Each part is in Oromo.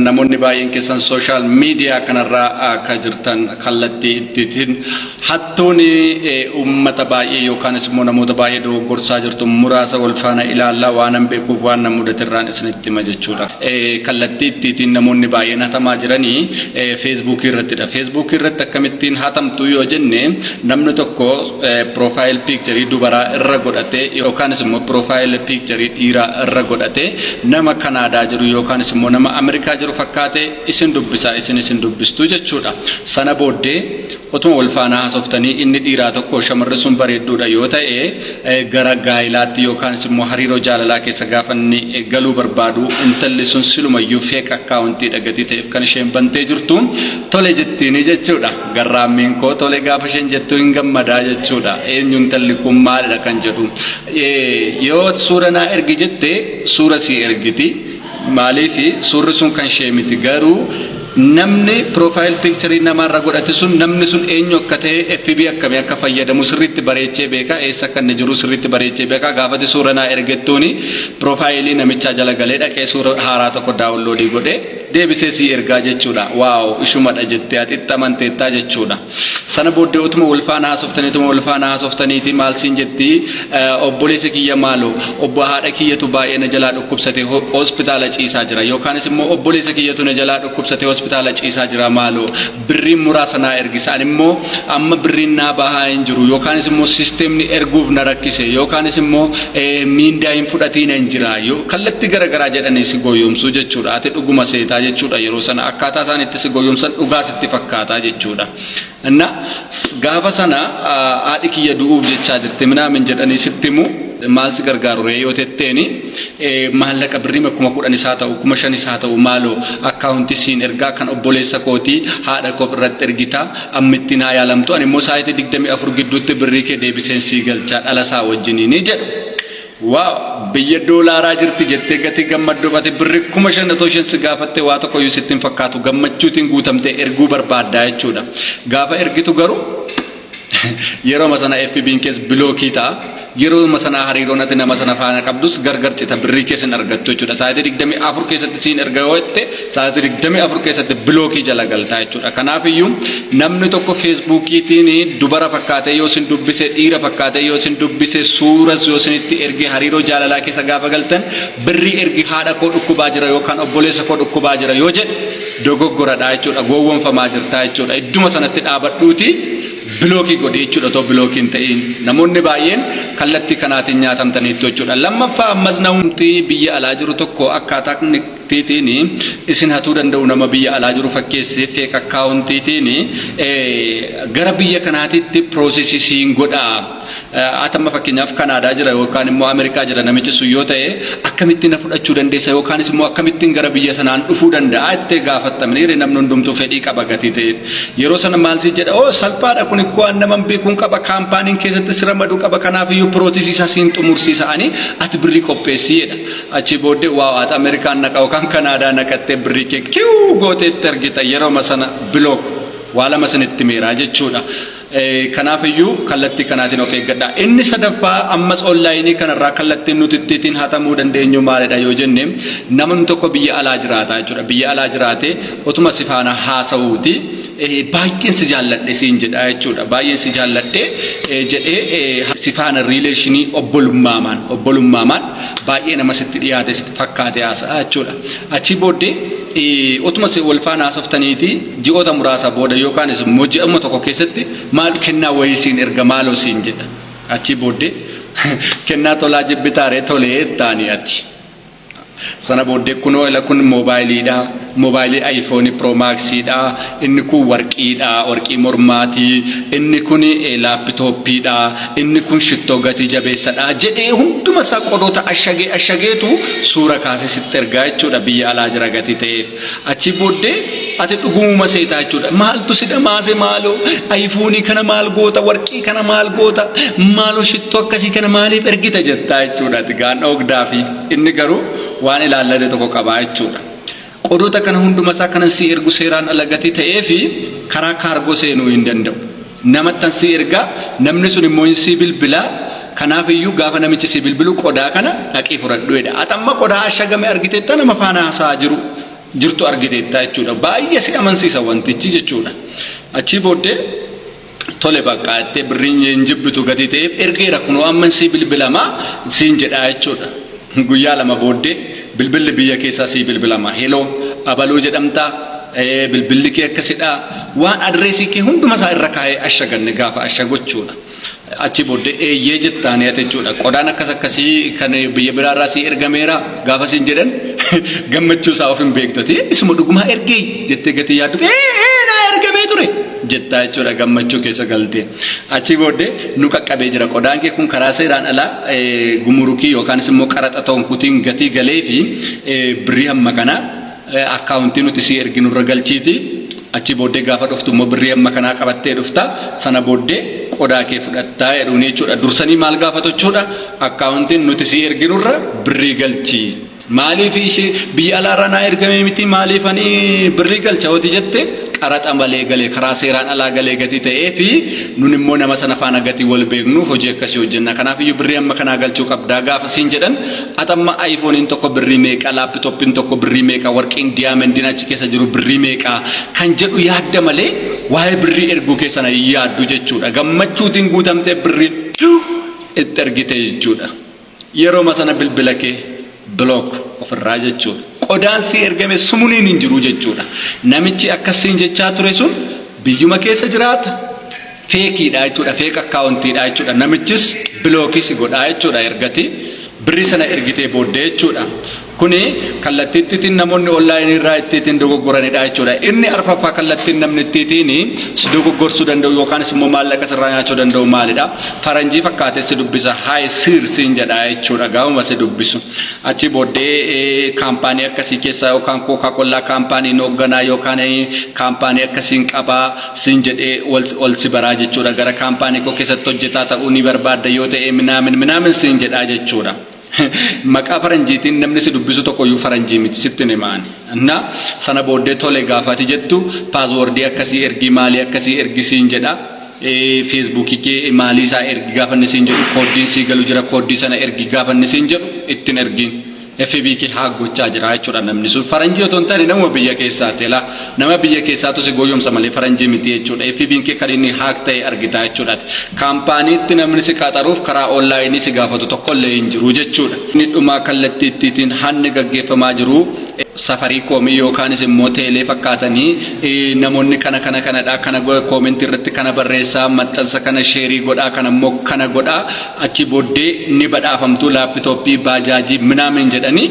Namoonni baay'een keessan sooshaal miidiyaa kanarraa akka jirtan kallattii ittiin hattuun uummata baay'ee yookaanis immoo namoota baay'ee dogoggorsaa jirtu muraasa wal faana ilaallaa waanan beekuuf waan na mudaterraan isinitti hima jechuudha. Kallattii ittiin namoonni baay'een hatamaa jiranii feesbuukii irrattidha. Feesbuukii irratti akkamittiin hatamtu yoo jenne namni tokko Profile picture dubaraa irra godhatee yookaanis immoo profile picture dhiiraa irra godhatee nama Kanaadaa jiru yookaanis immoo nama Ameerikaa jiru fakkaatee isin dubbisaa isin isin dubbistuu jechuudha. Sana booddee otuma wal faanaa hasoftanii inni dhiiraa tokko shamarri sun bareedduudha yoo ta'e gara gaa'ilaatti yookaanis immoo hariiroo jaalalaa keessa gaafa inni galuu barbaadu intalli sun silumayyuu feek akkaawuntiidha gatii ta'eef kan isheen bantee jirtu tole jettiinii jechuudha. Garraammiin koo tole gaafa isheen jettu hin gammadaa jechuudha. Eenyu intalli kun maalidha kan jedhu. Yoo suura naa ergi jette suura sii ergiti. Maaliif suurri sun kan ishee miti garuu namni piroofaayil piikcharii namaarra godhate sun namni sun eenyu akka ta'e FB akkamii akka fayyadamu sirriitti bareechee beeka eessa akka inni jiru sirriitti bareechee beeka gaafati suura naa ergettuuni piroofaayilii namichaa jala galee dhaqee suura haaraa tokko daawunloodii godhee deebisee sii ergaa jechuudha. Waaw ishumadha jettee ati itti amanteettaa jechuudha. Sana booddee utuma wal faana haasoftanii utuma wal faana haasoftaniiti maal siin jetti eh, obboleessa kiyya maaloo obbo haadha kiyyatu baay'ee na jalaa dhukkubsate ho- hospitaala ciisaa jira yookaanis immoo obboleessa kiyyatu na jalaa dhukkubsate hospitaala ciisaa jira maaloo birriin muraasa naa ergisa ani immoo amma birriin naa bahaa hin jiru yookaanis immoo sisteemni erguuf na rakkise yookaanis immoo miindaa hin fudhatiina hin jira kallatti gara garaa jedhanii si gooyyoomsuu jechuudha ati dhuguma seetaa jechuudha yeroo sana akkaataa isaan itti si gooyyoomsan dhugaa sitti fakkaataa jechuudha na gaafa sana haadhi kiyya du'uuf jechaa jirti minaamin jedhanii sitti himu maal si gargaaru ree yoo tetteeni maallaqa birrima kuma kudhanis haa ta'u kuma shanis haa ta'u maaloo akkaawunti siin ergaa kan obboleessa kooti haadha koof irratti ergita amma ittiin haa yaalamtu ani immoo saayitii digdamii afur gidduutti birrii kee deebiseen sii galchaa dhala isaa wajjinii ni jedhu. Waaw biyya doolaaraa jirti jettee gatii gammaddoof ati birri kuma shan otoo isheen si gaafatte waa tokko iyyuu sitti hin fakkaatu gammachuutiin guutamtee erguu barbaaddaa jechuudha. Gaafa ergitu garuu Yeroma sana FBn kees bilookii ta'a. Yeroma sana hariiroon ati nama sana faana qabdus gargar cita birrii kees hin argattu jechuudha. Sa'aatii 24 keessatti siin erga yoo jette sa'aatii 24 keessatti bilookii jala galtaa jechuudha. Kanaafiyyuu namni tokko feesbuukiitiin dubara fakkaatee yoo sin dubbise dhiira fakkaatee yoo sin dubbise suuras yoo sinitti erge hariiroo jaalalaa keessa gaafa galtan birrii ergi haadha koo dhukkubaa jira yookaan obboleessa koo dhukkubaa jira yoo jedhe dogoggoradha jechuudha gowwomfamaa jirtaa jechuudha idduma sanatti dhaabadhuuti bilookii godhi jechuudha otoo bilookii hin ta'iin namoonni baay'een kallattii kanaatiin nyaatamtaniittu jechuudha lammaffaa ammas namumti biyya alaa jiru tokko akkaataa tiitiin isin hatuu danda'u nama biyya alaa jiru fakkeessee feek akkaawuntiitiin gara biyya kanaatiitti piroosesii siin godhaa Ati amma fakkeenyaaf Kanaadaa jira yookaan immoo Ameerikaa jira namichi sun yoo ta'e akkamitti na fudhachuu dandeessa yookaanis immoo akkamittiin gara biyya sanaan dhufuu danda'a ittee gaafattamniire namni hundumtuu fedhii qaba gatii ta'e. Yeroo sana maal si jedha oo salphaadha kun ikkoo an naman beekuun qaba kaampaaniin keessatti si ramaduu qaba kanaaf iyyuu piroosisii isaa siin xumursiisa ani ati birrii qopheessii jedha. Achii booddee waa waata Ameerikaan naqa yookaan Kanaadaa naqattee birrii kee kiwuu gootee itti argita yeroo sana bilook waa lama sinitti meeraa jechuudha. Kanaaf iyyuu kallattii kanaatiin of eeggadha. Inni sadaffaa ammas onlaayinii kanarraa kallattiin nuti ittiin hatamuu dandeenyu maalidha yoo jenne namni tokko biyya alaa jiraata jechuudha. Biyya alaa jiraate otuma si faana haasa'uuti baay'een si jaalladhe siin jedha jechuudha. Baay'een si jaalladhe jedhee si faana riileeshinii obbolummaamaan obbolummaamaan baay'ee nama sitti dhiyaate sitti fakkaate haasa'a jechuudha. Achii booddee Otuma si wal faana haasoftaniiti ji'oota muraasa booda yookaanis immoo ji'amma tokko keessatti maal kennaa wayii siin erga maaloo siin jedha. Achii booddee kennaa tolaa jibbitaaree tolee taanii ati. Sana booddee kunoo ila kun moobaayiliidha. Moobaayilii ayifoonii piroomaaksiidha. Inni kun warqii dha, warqii mormaa ti, inni kun laappitooppii dha, inni kun shittoo gatii jabeessa dha jedhee hunduma isaa qodoota ashagee ashageetu suura kaasee sitti ergaa jechuudha biyya alaa jira gatii ta'eef. Achii booddee ati dhugumuma seetaa jechuudha. Maaltu si dhamaase maaloo ayifuunii kana maal goota warqii kana maal goota maaloo shittoo akkasii kana maaliif ergita jettaa jechuudha. Ati gaanna ogdaa fi inni garuu waan ilaallate tokko qabaa jechuudha. Qodoota kana hundumasaa kanan sii ergu seeraan ala gatii ta'eefi karaa kaargoo seenuu hin danda'u. Namattan sii erga, namni sun immoo hin sii bilbila, kanaaf iyyuu gaafa namichi sii bilbilu qodaa kana dhaqii fudhadhu jedha. Ati amma qodaa ashagame argiteetta nama faana haasa'aa jiru jirtu argiteetta jechuudha. Baay'ee si amansiisa wantichi jechuudha. Achii booddee Tole bakka jettee birriin hin jibbitu gatii ta'eef ergeera kunoo amman sii bilbilama siin jedhaa jechuudha. Guyyaa lama booddee bilbilli biyya keessaa sii bilbilama. Heloo abaluu jedhamtaa bilbilli kee akkasidhaa waan adreesii kee hunduma isaa irra kaa'ee ashaganne gaafa ashagochuudha. Achi booddee eeyyee jettaan yaate jechuudha. Qodaan akkas akkasii kan biyya biraarraa sii ergameera gaafa siin jedhan gammachuu isaa of hin beektu. Isuma dhugumaa ergee jettee gatii yaaddu. Ee ee naa ergamee ture. jettaa jechuudha gammachuu keessa galtee. Achii booddee nu qaqqabee jira qodaan kee kun karaa seeraan alaa eh, gumurukii yookaanis immoo qaraxa ta'uun kutiin gatii galee fi eh, birrii hamma kanaa eh, akkaawuntii nuti si erginurra galchiiti. Achii booddee gaafa dhuftu immoo birrii hamma kanaa qabattee dhufta sana booddee qodaa kee fudhattaa jedhuun jechuudha. Dursanii maal gaafatu jechuudha akkaawuntiin nuti si erginurra birrii galchii. Maaliif ishee biyya alaarraa naa ergamee miti maaliif ani birrii galcha hoti jette qaraxa malee galee karaa seeraan alaa galee gatii ta'ee fi nun immoo nama sana faana gatii wal beeknu hojii akkasii hojjenna kanaaf iyyuu birrii amma kanaa galchuu qabdaa gaafa siin jedhan atamma ayifooniin tokko birrii meeqa laappitooppiin tokko birrii meeqa warqiin diyaamendiin achi keessa jiru birrii meeqa kan jedhu yaadda malee waa'ee birrii erguu keessana hin yaaddu jechuudha gammachuutiin guutamtee birrii itti ergite jechuudha. Yeroma sana bilbila kee block ofirraa jechuudha. Qodaan si ergame sumuniin hin jiru jechuudha. Namichi akkas siin jechaa ture sun biyyuma keessa jiraata. Feekiidha jechuudha. Feek akkaawuntiidha jechuudha. Namichis bilookii si godhaa jechuudha ergati birri sana ergitee booddee jechuudha. Kuni kallattii ittiitiin namoonni onlaayinii irraa ittiitiin dogoggoranidha jechuudha. Inni arfaffaa kallattiin namni ittiitiin si dogoggorsuu danda'u yookaanis immoo maallaqa sirraa nyaachuu danda'u maalidha? Faranjii fakkaatee si dubbisa. Haay siir siin jedha jechuudha gaafuma si dubbisu. Achi booddee eh, kaampaanii akkasii keessaa yookaan kookaa kollaa kaampaanii hin hoogganaa yookaan eh, kaampaanii akkasiin qabaa siin jedhee ol, ol si baraa jechuudha. Gara kaampaanii koo keessatti hojjetaa ta'uu ni barbaadda yoo ta'e minaamin minaamin siin jedhaa jechuudha. Maqaa faranjiitiin namni si dubbisu tokkoyyuu faranjii miti sittin hima ani. Na sana booddee tole gaafati jettu paaswordii akkasii ergii maalii akkasii ergi siin jedha. Feesbuukii kee maalii isaa ergi gaafanni siin jedhu kooddiin sii galu jira kooddii sana ergi gaafanni siin jedhu ittin ergiin. FB kee haak gochaa jira jechuudha namni sun faranjii otoo hin taane nama biyya keessaati laa Nama biyya keessaatu si goyyomsa malee faranjii miti jechuudha. FBn kee kan inni haak ta'e argitaa jechuudhaati. Kaampaaniitti namni si qaxaruuf karaa onlaayinii si gaafatu tokkollee hin jiru jechuudha. Inni dhumaa kallattii ittiitiin hanni gaggeeffamaa jiru Safariikoomii yookaanis immoo teelee fakkaatanii namoonni kana kana kanadha kana koomentii irratti kana barreessaa maxxansa kana sheerii godhaa kana immoo kana godhaa achi booddee ni badhaafamtuu laappitooppii baajaajii minaamin jedhanii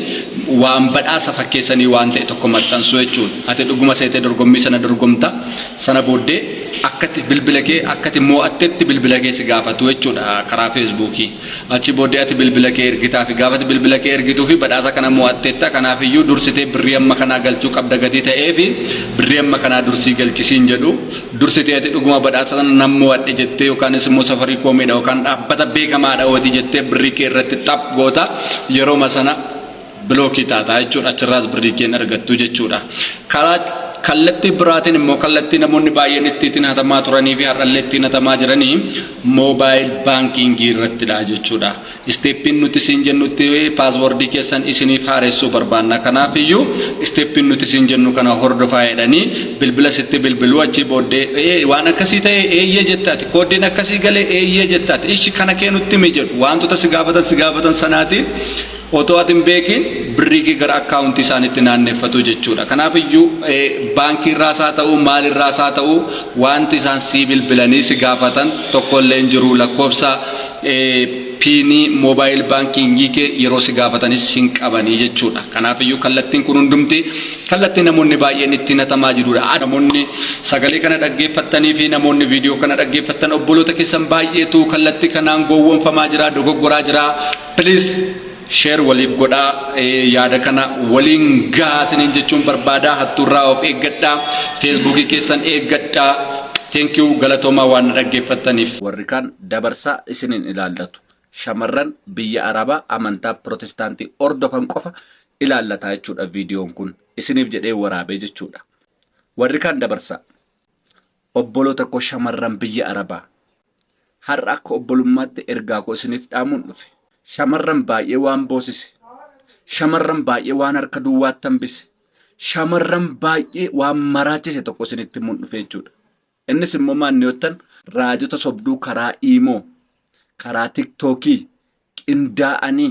waan badhaasa fakkeessanii waan ta'e tokko maxxansuu jechuun ati dhuguma seetee dorgommii sana dorgomta sana booddee akkatti bilbila kee akkati moo'attetti bilbila kee si gaafatu jechuudha karaa feesbuukii achi booddee ati bilbila kee ergitaa fi gaafati bilbila kee ergituu fi badhaasa kana moo'atteetta kanaaf iyyuu dursitee birrii amma kanaa galchuu qabda gatii ta'ee fi birrii amma kanaa dursii galchisiin jedhu Dursitee ati dhuguma badhaasa sana nan mo'adhe jettee yookaanis immoo safarii koomiidha yookaan dhaabbata beekamaadha hootii jettee birrii kee irratti xap goota yerooma sana bilookii taataa jechuudha achirraas birrii kee hin argattu jechuudha. Karaa kallattii biraatiin immoo kallattii namoonni baay'een ittiin hatamaa turanii fi har'allee ittiin hatamaa jiranii moobaayil baankiingii irrattidha jechuudha. Isteeppiin nuti siin jennutti paaswordii keessan isiniif haaressuu barbaanna. Kanaaf iyyuu isteeppiin nuti siin jennu kana hordofaa jedhanii bilbila sitti bilbiluu achii booddee waan akkasii ta'e eeyyee jettaati kooddiin akkasii galee eeyyee jettaati ishi kana kee nutti himi jedhu wantoota si gaafatan si gaafatan sanaati otoo ati hin beekiin birrii kee gara akkaawuntii isaanitti naanneffatu jechuudha. Kanaaf iyyuu baankii irraas haa ta'u maal irraas haa ta'u wanti isaan sii bilbilanii si gaafatan tokkollee hin jiru lakkoofsa piinii moobaayil baankiingii kee yeroo si gaafatanis hin qabanii jechuudha. Kanaafiyyuu kallattiin kun hundumti kallattii namoonni baay'een itti hatamaa jirudha. Namoonni sagalee kana dhaggeeffattanii fi namoonni viidiyoo kana dhaggeeffattan obboloota keessan baay'eetu kallattii kanaan gowwoomfamaa jira, dogoggoraa jira. Please sheer waliif godhaa yaada kana waliin gahaa isiniin jechuun barbaada. Hattuurraa of eeggadhaa. Feesbuukii keessan eeggadhaa. Thank you galatoomaa waan dhaggeeffattaniif. Warri kaan dabarsaa isin hin ilaallatu. Shamarran biyya Arabaa amantaa Pirootestaantii hordofan qofa ilaallata jechuudha viidiyoon kun. Isiniif jedhee waraabee jechuudha. Warri kaan dabarsaa. Obboloota koo shamarran biyya Arabaa. Har'a akka obbolummaatti ergaa koo isiniif dhaamuun dhufe. Shamarran baay'ee waan boosise. Shamarran baay'ee waan harka duwwaatti hambise. Shamarran baay'ee waan maraachise tokko isinitti himuun dhufe jechuudha. Innis immoo maal niottan raajota sobduu karaa iimoo, karaa tiktookii qindaa'anii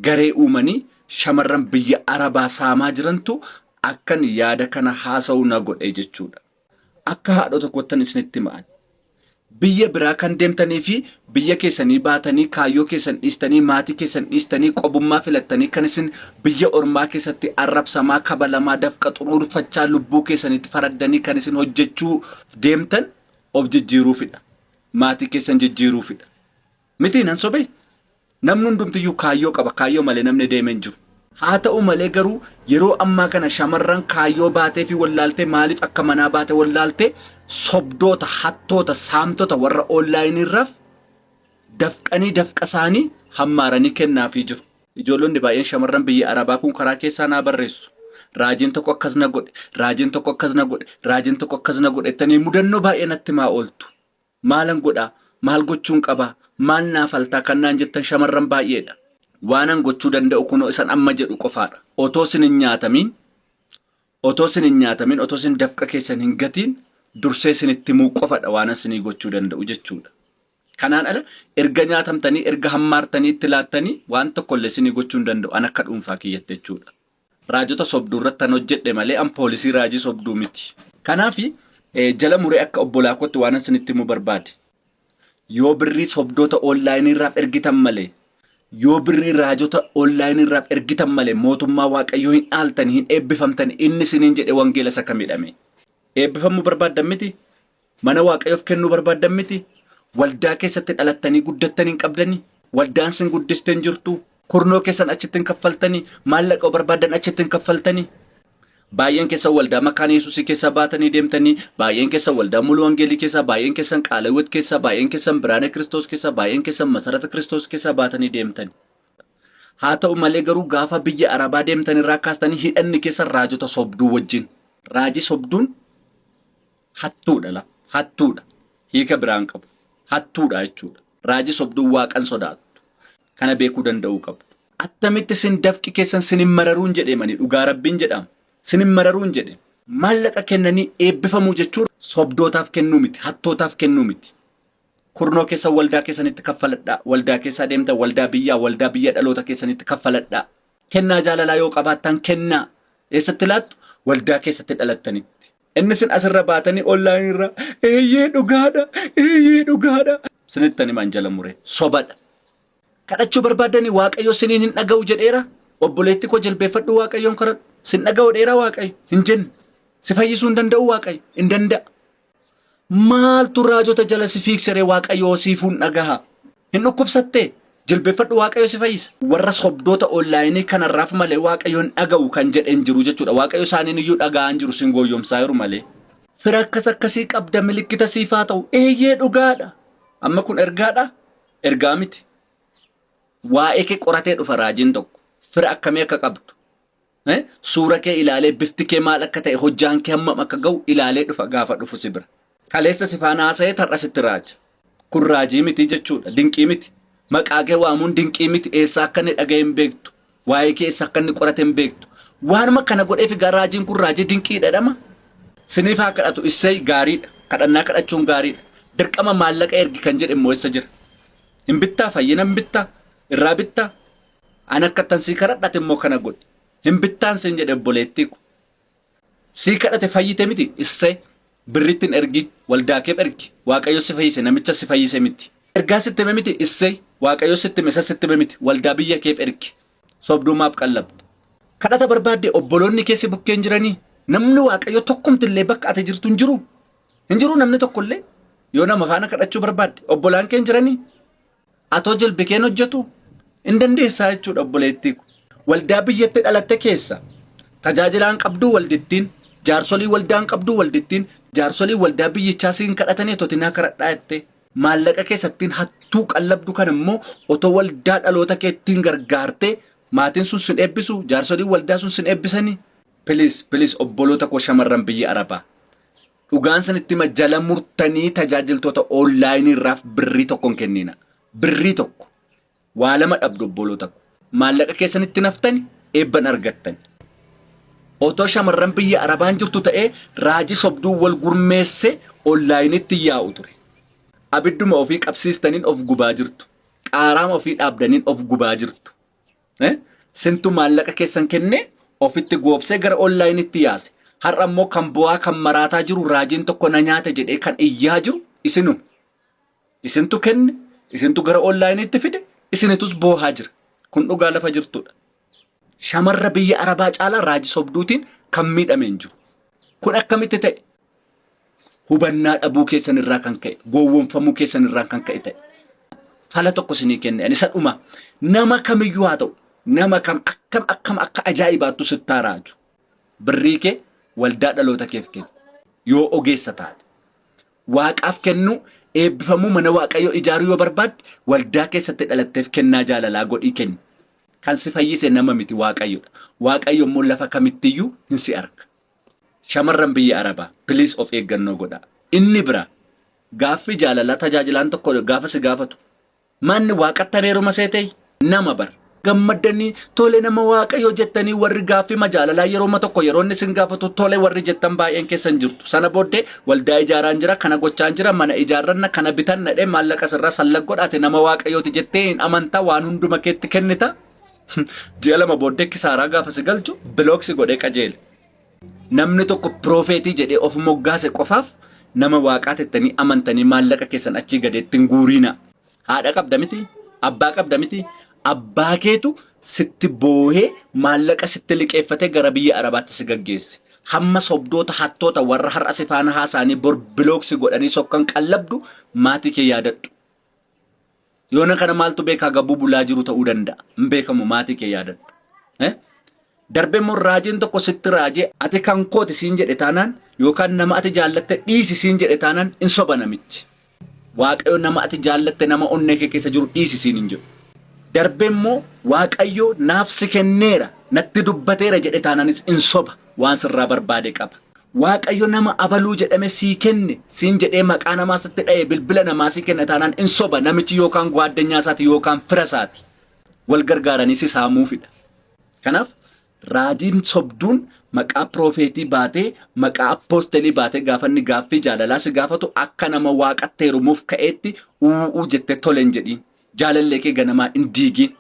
garee uumanii shamarran biyya arabaa saamaa jirantu akkan yaada kana haasa'u na godhe jechuudha. Akka haadhoo tokkoottan isinitti hima ani. Biyya biraa kan deemtanii fi Biyya keessanii baatanii, kaayyoo keessan dhiistanii, maatii keessan dhiistanii, qobummaa filattanii kan isin biyya ormaa keessatti arrabsamaa, kabalamaa, dafqa xuruurfachaa lubbuu keessanitti faraddanii kan isin hojjechuu deemtan of jijjiiruufidha. Maatii keessan jijjiiruufidha. Mitii nan sobee? Namni hundumtiyyuu kaayyoo qaba. Kaayyoo malee namni deeme hin jiru. Haata'u malee garuu yeroo ammaa kana shamarran kaayyoo baateefii wallaaltee maaliif akka manaa baate wallaaltee sobdoota, hattoota, saamtota warra onlaayiniirraaf dafqanii dafqasaanii hammaaranii kennaafii jiru. Ijoollonni baay'een shamarran biyya Arabaa kun karaa keessaa naa barreessu. Raajiin tokko akkas na godhe, raajiin tokko akkas na godhe, raajiin tokko akkas na godhe jettanii mudannoo baay'ee natti himaa ooltu. Maalan godha? Maal gochuun qaba? Maal naa falta? Kan naan jettan shamarran baay'eedha. Waanan gochuu danda'u kunoo isan amma jedhu qofaadha. Otoo isin hin nyaatamiin, otoo isin hin nyaatamiin, otoo isin dafqa keessan hin gatiin dursee isinitti himuu qofadha waanan isinii gochuu danda'u jechuudha. Kanaan ala erga nyaatamtanii, erga hammaartanii, itti laattanii waan tokkollee isinii gochuu hin danda'u an akka dhuunfaa kiyyatti jechuudha. Raajota sobduu irrattan hojjedhe malee an poolisii raajii sobduu miti. Kanaaf jala muree akka obbolaa kootti waanan isinitti himuu barbaade yoo birrii sobdoota online irraaf ergitan malee yoo birrii raajota online irraaf ergitan malee mootummaa waaqayyoo hin dhaaltani hin eebbifamtani inni isiniin jedhe wangeela isa kamidhame eebbifamuu barbaaddan miti Mana Waaqayyoof kennuu barbaaddan miti? Waldaa keessatti dhalattanii guddattan hin qabdanii? Waldaan sin guddiste hin jirtu? Kurnoo keessan achitti hin kaffaltanii? Maallaqa barbaaddan achitti hin kaffaltanii? Baay'een keessan waldaa makaana Yesuusii keessaa baatanii deemtanii, baay'een keessan waldaa muluu wangeelii keessaa, baay'een keessan qaala hiwwat keessaa, baay'een keessan biraana Kiristoos keessaa, baay'een keessan masarata Kiristoos keessaa baatanii deemtani. Haa ta'u malee garuu gaafa biyya Arabaa deemtan irraa kaastanii hidhanni keessan raajota sobduu wajjin. Raajii sobduun Hattuudha la hattuudha hiika biraa hin qabu hattuudha jechuudha. Raajii sobduu waaqan sodaattu kana beekuu danda'uu qabdu. Attamitti sin dafqi keessan sin hin mararuun jedheem ani dhugaa rabbiin jedhaam sin hin mararuun jedhe. Maallaqa kennanii eebbifamuu jechuun sobdootaaf kennuu miti hattootaaf kennuu miti. Kurnoo keessan waldaa keessanitti kaffaladhaa waldaa keessaa deemtan waldaa biyyaa waldaa biyya dhaloota keessanitti kaffaladhaa. Kennaa jaalalaa yoo qabaattan kennaa eessatti laattu waldaa keessatti dhalattanitti. Inni sin asirra baatanii online irra eeyyee dhugaadha eeyyee dhugaadha sinittan himan jala muree sobadha. Kadhachuu barbaaddanii waaqayyo siniin hin dhaga'u jedheera obboleetti koo jilbeeffadhu waaqayyoon kadhadhu sin dhaga'u dheera waaqayyo hin jenne si fayyisuu hin danda'u waaqayyo hin danda'a. Maaltu raajota jala si fiiksere waaqayyo siifuu hin dhagaha. Hin dhukkubsattee? Jilbeffadhu Waaqayyo si fayyisa. Warra sobdoota online kanarraaf malee Waaqayyo hin dhaga'u kan jedhe hin jiru jechuudha. Waaqayyo isaaniin iyyuu dhaga'aa hin jiru sin gooyyomsaayiru malee. Fira akkas akkasii qabda milikkita siif haa ta'u. Eeyyee dhugaadha. Amma kun ergaadha? Ergaa miti. Waa'ee kee qoratee dhufa raajiin tokko. Fira akkamii akka qabdu. Eh, Suura kee ilaalee bifti kee maal akka ta'e hojjaan kee hammam akka ga'u ilaalee dhufa gaafa dhufu si bira. Kaleessa si faana haasa'ee tar'a sitti raaja. Kun raajii miti jechuudha. Dinqii miti. Maqaa kee waamuun dinqii miti. Eessaa akka inni dhaga'e hin beektu. Waa'ee kee eessa akka inni qorate hin beektu. Waanuma kana godheef egaa raajiin kun raajii dinqiidha jedhama. Siniif haa kadhatu isseey gaariidha. Kadhannaa kadhachuun gaariidha. Dirqama maallaqa ergi kan jedhe immoo eessa jira? Hin bittaa fayyina hin bittaa? Irraa bittaa? An akkattan sii kadhadhate immoo kana godhi. Hin bittaan siin jedhe obboleettii ko. Sii kadhate fayyite miti issee birrittin ergi waldaakeef ergi waaqayyo si fayyise namicha si fayyise miti. Ergaa sitti hime miti issee waaqayyo sitti hime isa sitti hime miti waldaa biyya keef ergi sobduu maaf qallabda. Kadhata barbaadde obboloonni kee si bukkeen jiranii namni waaqayyo tokkumti illee bakka ati jirtu hin jiru. Hin jiru namni tokko illee yoo nama faana kadhachuu barbaadde obbolaan kee hin jiranii Atoo jilbi keen hojjetu hin dandeessaa jechuudha obboleettii ko. Waldaa biyyatti dhalatte keessa tajaajilaan qabduu waldittiin jaarsolii waldaan qabduu waldittiin jaarsolii waldaa biyyichaa siin kadhatanii otoo tinaa karadhaa jettee maallaqa keessattiin hattuu qallabdu kana immoo otoo waldaa dhaloota keettiin gargaartee maatiin sun sin eebbisu jaarsolii waldaa sun sin eebbisanii. Please please obboloota koo shamarran biyya Arabaa Dhugaan sanitti hima jala murtanii tajaajiltoota oonlaayinii irraaf birrii tokko hin kenniina. Birrii tokko. Waa lama dhabdu obboloota ko. Maallaqa keessan itti naftani eebban argattan. Otoo shamarran biyya Arabaan jirtu ta'ee raaji sobduu wal gurmeesse oonlaayinitti yaa'u ture. Abidduma ofii qabsiistaniin of gubaa jirtu. Qaaraama ofii dhaabdaniin of gubaa jirtu. Sintu maallaqa keessan kennee ofitti goobsee gara onlaayinitti yaase. Har'a immoo kan bu'aa kan maraataa jiru raajiin tokko na nyaate jedhee kan iyyaa jiru isinu. Isintu kenne, isintu gara onlaayinitti fide, isinitus boohaa jira. Kun dhugaa lafa jirtudha. Shamarra biyya Arabaa caalaa raaji sobduutiin kan miidhame hin jiru. Kun akkamitti ta'e? hubannaa dhabuu keessan irraa kan ka'e gowwomfamuu keessan irraa kan ka'e ta'e fala tokko isinii kenne ani isa dhuma nama kamiyyuu haa ta'u nama kam akkam akkam akka ajaa'ibaattu sittaa raaju birrii kee waldaa dhaloota keef kenni yoo ogeessa taate waaqaaf kennuu eebbifamuu mana waaqayyoo ijaaruu yoo barbaadde waldaa keessatti dhalatteef kennaa jaalalaa godhii kenni kan si fayyise nama miti waaqayyodha waaqayyo immoo lafa kamittiyyuu hin si arga Shamarran biyya Arabaa please of eeggannoo godhaa. Inni biraa gaaffii jaalalaa tajaajilaan tokko gaafa si gaafatu manni waaqattan heeruma seetee nama bar gammaddanii tole nama waaqayyoo jettanii warri gaaffii majaalalaa yerooma tokko yeroo inni isin gaafatu tole warri jettan baay'een keessan jirtu sana booddee waldaa ijaaraan jira kana gochaan jira mana ijaarranna kana bitanna dhee maallaqa sirraa sallag godhaate nama waaqayyooti jettee hin amanta waan hunduma keetti kennita Ji'a lama booddee kisaaraa gaafa si galchu bilook si godhee qajeele. Namni tokko piroofeetii jedhee of moggaase qofaaf nama waaqaa tettanii amantanii maallaqa keessan achii gadeetti hin guuriina. Haadha qabda miti, abbaa qabda miti, abbaa keetu sitti boohee maallaqa sitti liqeeffatee gara biyya Arabaatti si gaggeesse. Hamma sobdoota hattoota warra har'a si faana haasaanii bor bilook si godhanii sokkan qallabdu maatii kee yaadadhu. Yoona kana maaltu beekaa gabbuu bulaa jiru ta'uu danda'a. Hin beekamu maatii kee yaadadhu. Eh? Darbee immoo raajiin tokko sitti raajee ati kan kooti siin jedhe taanaan yookaan nama ati jaallatte dhiisi siin jedhe taanaan hin soba namichi. Waaqayyo nama ati jaallatte nama onnee kee keessa jiru dhiisi siin hin jedhu. Darbee immoo Waaqayyo naaf si kenneera natti dubbateera jedhe taanaanis hin soba waan sirraa barbaade qaba. Waaqayyo nama abaluu jedhame sii kenne siin jedhee maqaa namaa sitti dha'e bilbila namaa sii kenna taanaan in soba namichi yookaan guaaddanyaa isaati yookaan fira isaati wal gargaaranii si saamuufidha. Kanaaf raajiin sobduun maqaa piroofeetii baatee maqaa appoostelii baatee gaafa inni gaaffii jaalalaa si gaafatu akka nama waaqatti heerumuuf ka'eetti u'uu jettee tole hin jedhiin jaalallee kee ganamaa hin diigiin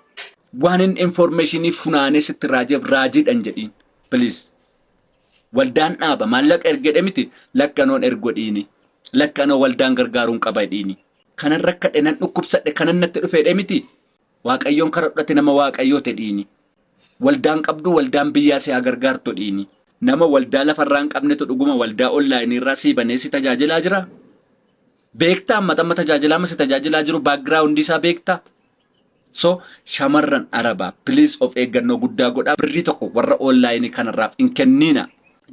waan inni informeeshinii funaanee sitti raajeef raajiidha hin jedhiin please. Waldaan dhaaba maallaqa ergedhe miti lakkanoon ergodhiini. Lakkanoo waldaan gargaaruun qaba jedhiini. Kanan rakkadhe nan dhukkubsadhe kanan natti dhufeedhe miti waaqayyoon karadhati nama waaqayyoo tedhiini. Waldaan qabduu waldaan biyyaa si haa gargaarto dhiini. Nama waldaa lafarraa hin qabnetu dhuguma waldaa online irraa sii banee si tajaajilaa jiraa? Beektaa amma tamma tajaajilaama si tajaajilaa jiru background isaa beektaa? So shamarran arabaa please of eeggannoo guddaa godhaa birrii tokko warra online kanarraaf hin kenniina.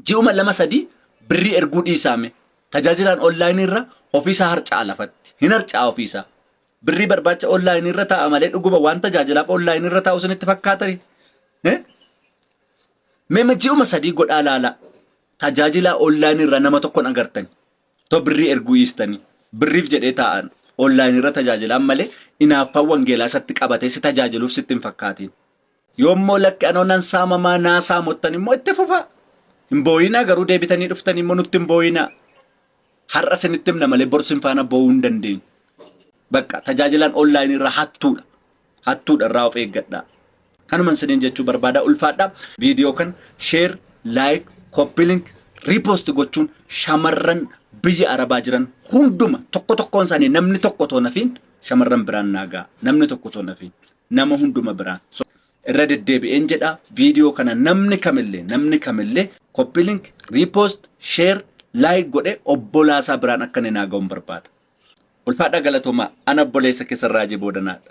Ji'uma lama sadii birrii erguu dhiisaame tajaajilaan online irra ofiisaa harca'a lafatti hin harca'a ofiisaa. Birrii barbaacha online irra taa'a malee dhuguma waan tajaajilaaf online irra taa'u isinitti fakkaatani. Eh? Mema ji'uma sadii godhaa laalaa tajaajilaa online irra nama tokkon agartani. Too birrii erguu dhiistanii birriif jedhee taa'an online irra tajaajilaan malee inaaffaan wangeelaa isatti qabatee si tajaajiluuf sitti hin fakkaatiin. Yoo immoo lakki anoo nan saamamaa naa saamottan immoo itti fufaa. Hin booyinaa garuu deebitanii dhuftanii immoo nutti hin booyinaa. Har'a isinitti himna malee bor sin faana boo'uu hin dandeenyu. Bakka tajaajilaan online irra hattuudha. Hattuudha irraa of eeggadhaa. Kanuman isiniin jechuu barbaada ulfaadha. Viidiyoo kan sheer, laayik, koppilink, riipost gochuun shamarran biyya arabaa jiran hunduma tokko tokkoon isaanii namni tokko otoo nafiin shamarran biraan naagaa namni tokko otoo nafiin nama hunduma biraan. So, irra deddeebi'een jedha viidiyoo kana namni kamillee namni kamillee koppilink, riipost, sheer, laayik godhe obbolaasaa biraan akka inni naaga'uun barbaada. Ulfaadhaa galatoomaa ana obboleessa keessan raajii boodanaadha.